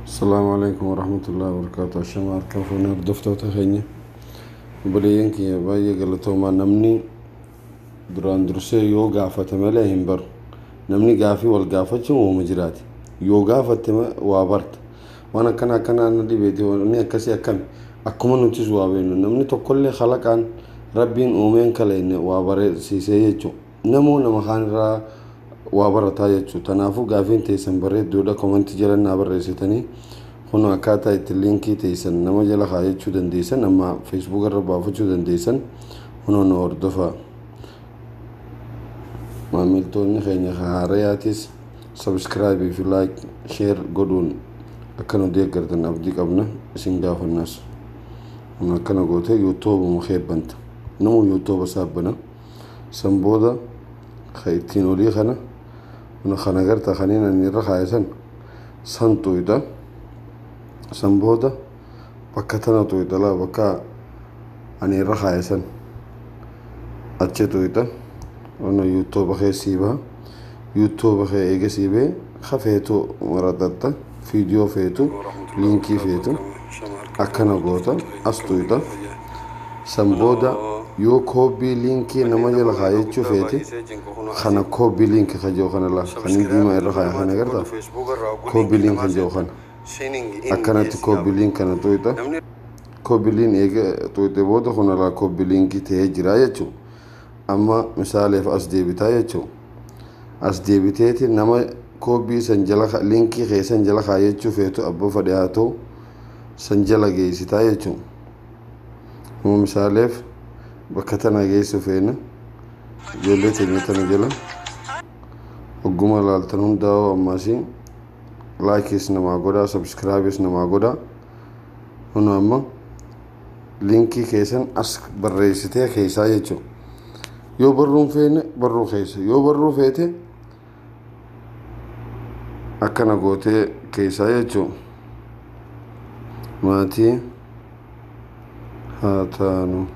Assalamu alaikum warahmatullahi wabarakatuh. Ashama harka fuunee hordoftoota keenya. Obboleeyyan kiyya baay'ee galatoomaa namni duraan dursee yoo gaafate malee hin baru. Namni gaafii wal gaafachuu uuma jiraate. Yoo gaafatte ma- waa barta. Waan akkana akkanaa na dhibeeti wanni akkasii akkami. Akkuma nutis waa beeknu namni tokkollee kalaqaan rabbiin uumeen kaleenne waa barsiisee jechuudha. Namoo nama kaan irraa waa barataa jechu tanaafuu gaafiin teeysan bareedduudha komanti jala naa barreessitanii kunoo akkaataa itti liinkii teeysan nama jala kaayachuu dandeeysan amma feesbuuka irra baafachuu dandeeysan kunoo nu hordofa maamiltoonni keenya ka haarayaatis sabskraayibii fi laayik sheer godhuun akka nu deeggartan abdii qabna isin gaafannas kun akkana goote yuutuubuma keebbanta namuu yuutuuba saabbana San booda ka ittiin olii kana buna kan agarta kaniin ani irra kaa'e san san tuyda. San booda bakka tana tuyda laa bakka ani irra kaa'e san achi tuyda. Ono yuuttooba keessii baha. yuutuuba kee eega sii bee ka feetu maraxaxxa fiidiyoo feetu liinkii feetu akkana goota as tuyxa san booda yoo koobii liinkii nama jala kaayachuu feete kana koobii liinki ka jiru kana laa kan hin diimaa irra kaaya kana garta koobii liin kan jiru kana akkanatti koobii liin kana tuyxa koobii liin eega tuyxe booda kun alaa koobii liinkii ta'ee jira jechuudha Amma misaaleef as deebitaa jechuu. As deebiteeti nama koobbii san jala ka- linkii kee san jala kaayachuu feetu abba fadhe haa ta'u san jala geessitaa jechuu. Amma misaaleef bakka tana geessu feena ijoollee teenya tana jala hogguma laaltan hundaa'uu ammaasii laakiis namaa godhaa sabskiraabis namaa godhaa. Huna amma linkii keessan as barreessitee keessaa jechuun yoo barruun feene barruu keessa yoo barruu feete akkana gootee keessaa jechuun maatii haa taanu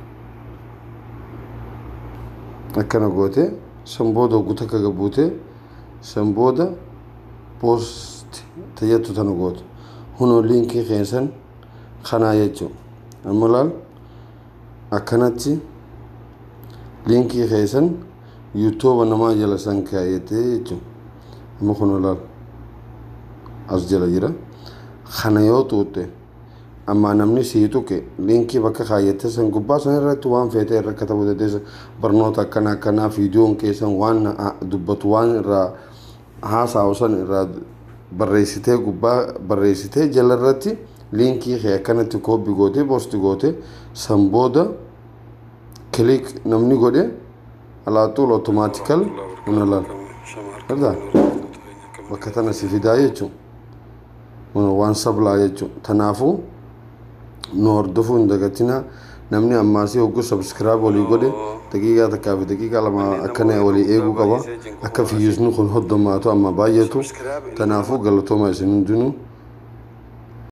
akkana gootee san booda oggu takka gabbuutee san booda poost tayyattu tana gootu hunoo linkii keessan kanaa jechuu amma laal akkanatti linkii keessan yuutuuba namaa jala san kaayatee jechuu amma kun laal as jala jira kana yoo tuutte ammaa namni sii tuqe linkii bakka kaayyatee san gubbaa san irratti waan feetee irra katabuu dandeessa barnoota akkana akkanaa fiidiyoon keessan waan dubbatu waan irraa haasaawu san irraa barreessitee gubbaa barreessitee jala irratti liinkii kee akkanatti kooppi gootee poosti gootee san booda kiliik namni godhe alaaxuul otomaatikal huna laal. Argaa? Bakka tana si fidaa jechuudha. waan sablaa jechuudha. Kanaafuu nu hordofuu hin dagatinaa. Namni ammaasii hogguu sabskiraab walii godhe daqiiqaa takkaa fi daqiiqaa lama akkana walii eeguu qaba. Akka fiyyuusni kun hoddomaatu amma baay'atu. Kanaafuu galatooma isin hundinuu.